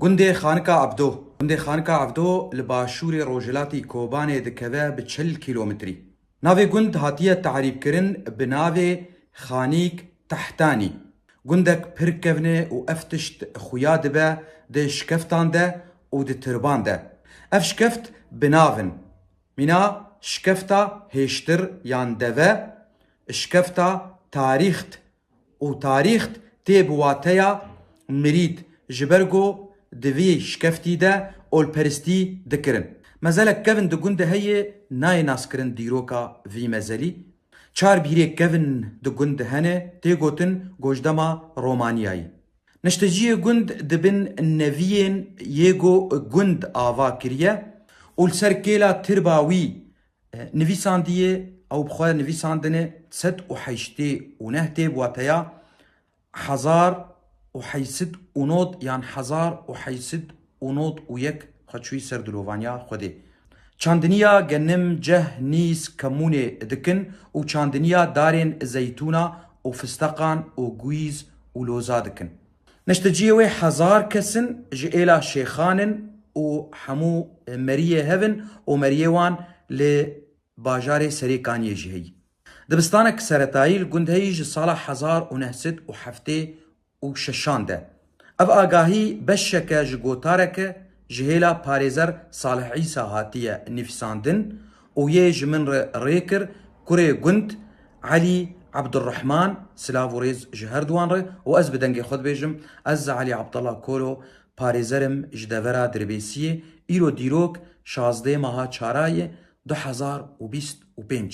Gundê Xanika Ebdo Gundê Xanika Ebdo li başûrê rojhilatî Kobanê dikeve bi çil kîlometrî. Navê gund hatiye tarîfkirin bi navê Xanîk Tehtanî. Gundek pir kevn e û ev tişt xuya dibe di şikeftan de û di tirban de. Ev şikeft bi nav in. Mîna Şikefta Hêştir yan Deve, Şikefta Tarîxt û tarîxt tê bi wateya mirîd ji ber ku di vî şikeftî de olperistî dikirin. Mezelek kevn di gundê heye nayê naskirin dîroka vî mezelî. Çar bîrê kevn di gund de hene tê gotin gojdema Romaniyayî. Nişteciyê gund di bin neviyên yê ku gund ava kiriye û li ser kêla tirba wî Nivîsandiyê, ew bi xwe nivîsandine sed û heştê û neh tê bi wateya hezar û heşt sed û nod yan hezar û heşt sed û nod û yek xwe çûyî ser dilovaniya Xwedê. Çandiniya genim, ceh, nîs, kemûnê dikin û çandiniya darên zeytûna û fisteqan û guîz û loza dikin. Neşteciyê wê hezar kes in ji êla şêxan in û hemû meriyê hev in û meriyê wan li bajarê Serê Kaniyê jî heyî. Dibistanek seretayî li gund heyî ji sala hezar û neh sed û heftê û şeşan de. Ev agahî beşeke ji gotareke ji hêla parêzer Salih Îsa hatiye nivîsandin û yê ji min re rê kir, kurê gund Elî Ebdurehman, silav û rêz ji her duwan re û ez bi dengê xwe dibêjim, ez Elî Abdala Kolo parêzer im ji devera Dirbêsiyê, îro dîrok şazdê meha Çarayê du hezar û bîst û pênc.